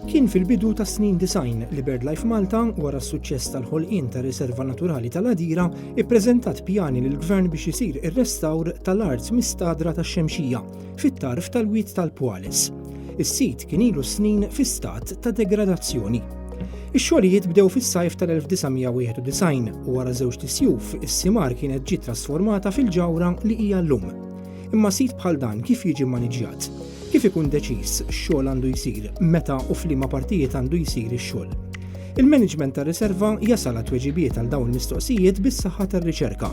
Kien fil-bidu tas snin design li BirdLife Malta, wara s-suċċess tal-ħolqien ta' riserva naturali tal-Adira, ippreżentat pjani lill-Gvern biex isir ir-restawr tal-art mistadra tax-Xemxija, fit-tarf tal-Wied tal-Pwales. Is-sit kien ilu snin fi stat ta' degradazzjoni. Ix-xogħlijiet bdew fis-sajf tal-1991 u wara żewġt isjuf is-simar kienet ġiet trasformata fil-ġawra li hija llum. Imma sit bħal dan kif jiġi maniġjat? Kif ikun deċiż x'xogħol għandu jsir, meta u f'liema partijiet għandu jsir ix-xogħol? Il-maniġment tar-riserva jasal għat-tweġibiet għal dawn il-mistoqsijiet bis-saħħa tar-riċerka.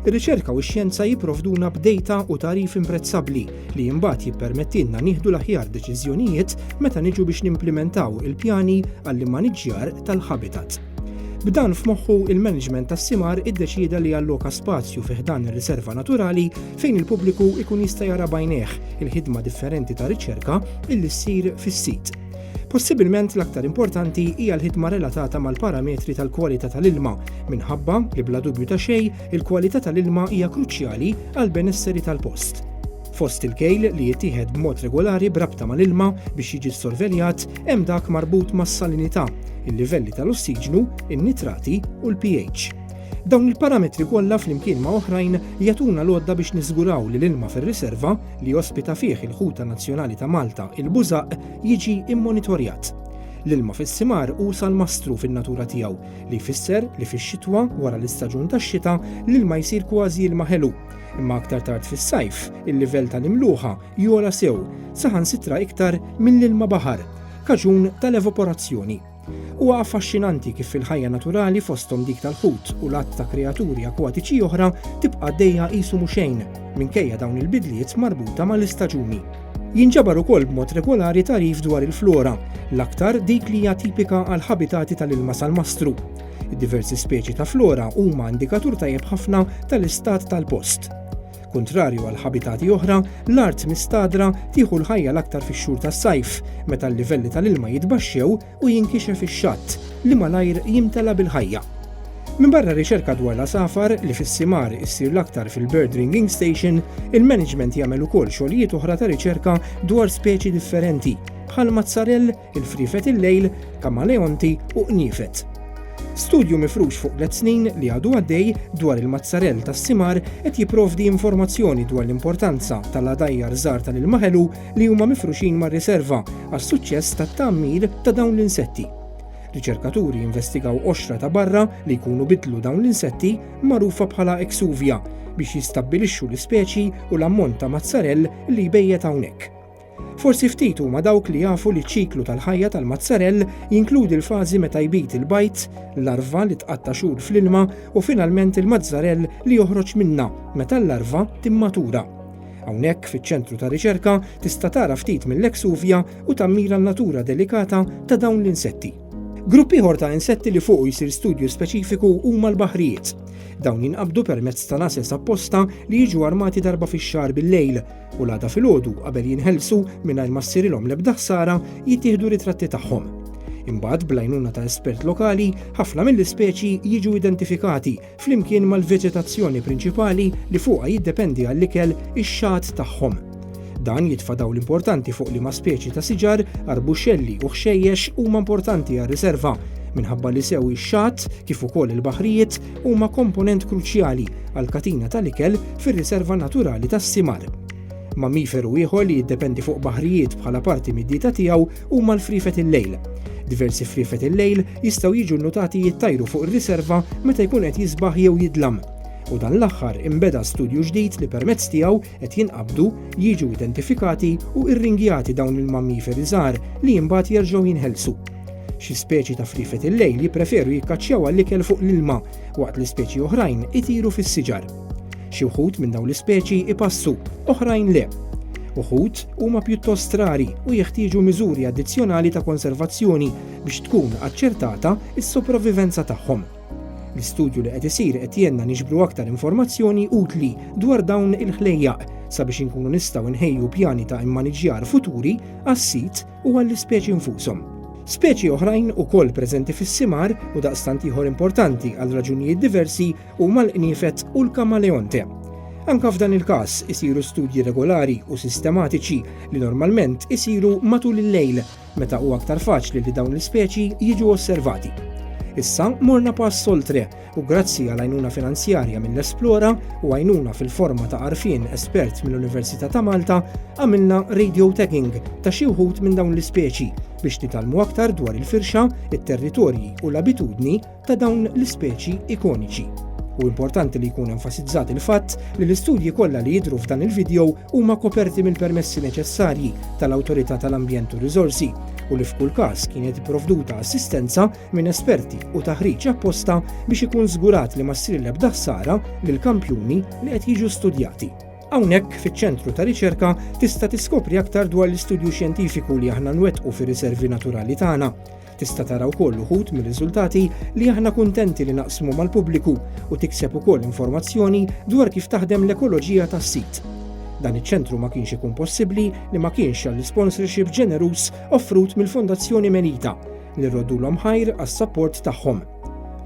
Ir-riċerka u x-xjenza jipprovduna b'dejta u tagħrif imprezzabbli li imbagħad jippermettilna nieħdu l-aħjar deċiżjonijiet meta niġu biex nimplimentaw il-pjani għall-immaniġġjar tal-habitat. B'dan f'moħħu il-management tas-simar iddeċieda li jalloka spazju fi ħdan ir-riserva naturali fejn il-pubbliku ikun jista' jara bajnejh il-ħidma differenti ta' riċerka illi ssir fis-sit. Possibilment l-aktar importanti hija l-ħidma relatata mal-parametri tal-kwalità tal-ilma, minħabba li bla dubju ta' xejn il-kwalità tal-ilma hija kruċjali għall-benesseri tal-post. Fost il-kejl li jittieħed b'mod regolari b'rabta mal-ilma biex jiġi ssorveljat hemm dak marbut mas-salinità, il-livelli tal-ossiġnu, in-nitrati u l-pH. Dawn il-parametri kollha flimkien ma' oħrajn jagħtuna l-għodda biex niżguraw li l-ilma fir-riserva li jospita fih il-ħuta nazzjonali ta' Malta, il-bużaq, jiġi mmonitorjat. L-ilma fis-simar hu salmastru fin-natura tiegħu, li jfisser li fix-xitwa, wara l-istaġun tax-xita, l-ilma jsir kważi ilma ħelu. Imma aktar tard fis-sajf, il-livell tal-imluħa jogħla sew, saħansitra iktar mill-ilma baħar, kaġun tal-evaporazzjoni. Huwa affaxxinanti kif il-ħajja naturali fosthom dik tal-ħut u l-għadd ta' kreaturi akwatiċi oħra tibqa' għaddejja qisu mhu xejn, minkejja dawn il-bidliet marbuta mal-istaġuni. Jinġabar ukoll b'mod regolari tagħrif dwar il-flora, l-aktar dik li hija tipika għall-ħabitati tal-ilma salmastru. Id-diversi speċi ta' flora huma indikatur tajjeb ħafna tal-istat tal-post. Kuntrarju għal ħabitati oħra, l-art mistagħdra tieħu l-ħajja l-aktar fix-xhur tas-sajf, meta l-livelli tal-ilma jitbaxxew u jinkixef ix-xatt, li malajr jimtela bil-ħajja. Minbarra r-riċerka dwar l-għasafar, li fis-simar issir l-aktar fil-Bird Ringing Station, il-management jagħmel ukoll xogħlijiet oħra ta' riċerka dwar speċi differenti, bħal mazzarell il-friefet il-lejl, kamaleonti u qniefet. Studju mifrux fuq tliet snin li għadu għaddej dwar il-mazzarell tas-simar qed jipprovdi informazzjoni dwar l-importanza tal-għadajjar żgħar tal-ilma ħelu li huma mifruxin mar-riserva għas-suċċess tat-tgħammir ta' dawn l-insetti. Riċerkaturi investigaw qoxra ta' barra li jkunu bidlu dawn l-insetti magħrufa bħala exuvia biex jistabbilixxu l-ispeċi u l-ammont ta' mazzarell li jbejjet hawnhekk. Forsi ftit huma dawk li jafu li ċ-ċiklu tal-ħajja tal-mazzarell jinkludi l-fażi meta jbid il-bajd, larva li tqatta' xhur fl-ilma u finalment il-mazzarell li joħroġ minnha meta l-larva timmatura. Hawnhekk, fiċ-Ċentru ta' Riċerka, tista' tara ftit mill-exuvia u tammira n-natura delikata ta' dawn l-insetti. Grupp ieħor ta' insetti li fuqu jsir studju speċifiku huma l-baħrijiet. Dawn jinqabdu permezz ta' nases apposta li jiġu armati darba fix-xahar bil-lejl, u l-għada filgħodu qabel jinħelsu mingħajr ma ssirilhom l-ebda ħsara jittieħdu ritratti tagħhom. Imbagħad blajnuna ta' espert lokali, ħafna mill-ispeċi jiġu identifikati flimkien mal-veġetazzjoni prinċipali li fuqha jiddependi għall-ikel ix-xagħat tagħhom. Dan jitfa' dawl importanti fuq li ma' speċi ta' siġar, arbuxelli u ħxejjex huma importanti għar-riserva minħabba li sew ix-xagħat kif ukoll il-baħrijiet huma komponent kruċjali għall-katina tal-ikel fir-Riserva Naturali tas-Simar. Mammiferu ieħor li jiddependi fuq baħrijiet bħala parti mid-dieta tiegħu huma l-friefet il-lejl. Diversi friefet il-lejl jistgħu jiġu nnutati jittajru fuq ir-riserva meta jkun qed jisbaħ jew jidlam. U dan l-aħħar imbeda studju ġdid li permezz tiegħu qed jinqabdu, jiġu identifikati u irringjati dawn il-mammiferi żgħar li imbagħad jerġgħu jinħelsu. Xi speċi ta' friefet il-lejl jippreferu jikkaċċjaw għall-ikel fuq l-ilma, waqt li speċi oħrajn itiru fis-siġar. Xi wħud minn dawn l-ispeċi ipassu, oħrajn le. Uħud huma pjuttost rari u jeħtieġu miżuri addizzjonali ta' konservazzjoni biex tkun aċċertata s-sopravivenza tagħhom. L-istudju li qed isir qed jgħinna niġbru aktar informazzjoni utli dwar dawn il-ħlejjaq sabiex inkunu nistgħu nħejju pjani ta' immaniġġjar futuri għas-sit u għall-ispeċi nfushom. Speċi oħrajn ukoll preżenti fis-simgħar u daqstant ieħor importanti għal raġunijiet diversi huma l-qniefed u l-kamaleonte. Anke f'dan il-każ isiru studji regolari u sistematiċi li normalment isiru matul il-lejl meta hu aktar faċli li dawn l-ispeċi jiġu osservati. Issa morna pass oltre u grazzi għal għajnuna finanzjarja mill-Esplora u għajnuna fil-forma ta' arfin espert mill-Università ta' Malta għamilna radio tagging ta' xi wħud minn dawn l-ispeċi biex nitalmu aktar dwar il-firxa, it-territorji u l-abitudni ta' dawn l-ispeċi ikoniċi. U importanti li jkun enfasizzat il-fatt li l-istudji kollha li jidhru f'dan il-video huma koperti mill-permessi neċessarji tal-Awtorità tal-Ambjent u Riżorsi u li f'kull każ kienet ipprovduta assistenza minn esperti u taħriġ apposta biex ikun żgurat li ma ssir l-ebda ħsara lil kampjuni li qed jiġu studjati. Hawnhekk fiċ-ċentru ta' riċerka tista' tiskopri aktar dwar l-istudju xjentifiku li aħna nwettqu fir-riservi naturali tagħna. Tista' tara wkoll uħud mir-riżultati li aħna kuntenti li naqsmu mal-pubbliku u tikseb ukoll informazzjoni dwar kif taħdem l-ekoloġija tas-sit. Dan iċ-ċentru ma kienx ikun possibbli li ma kienx għall-isponsorship ġeneruż offrut mill-Fondazzjoni Melita li rroddulhom ħajr għas-sapport tagħhom.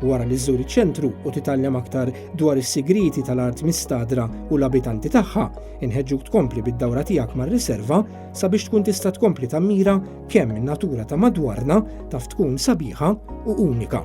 Wara li żżur iċ-ċentru u titgħallem aktar dwar is-sigrieti tal-art mistadra u l-abitanti tagħha, inħeġġuk tkompli bid-dawra tiegħek mar-riserva sabiex tkun tista' tkompli tammira kemm in-natura ta' madwarna taf tkun sabiħa u unika.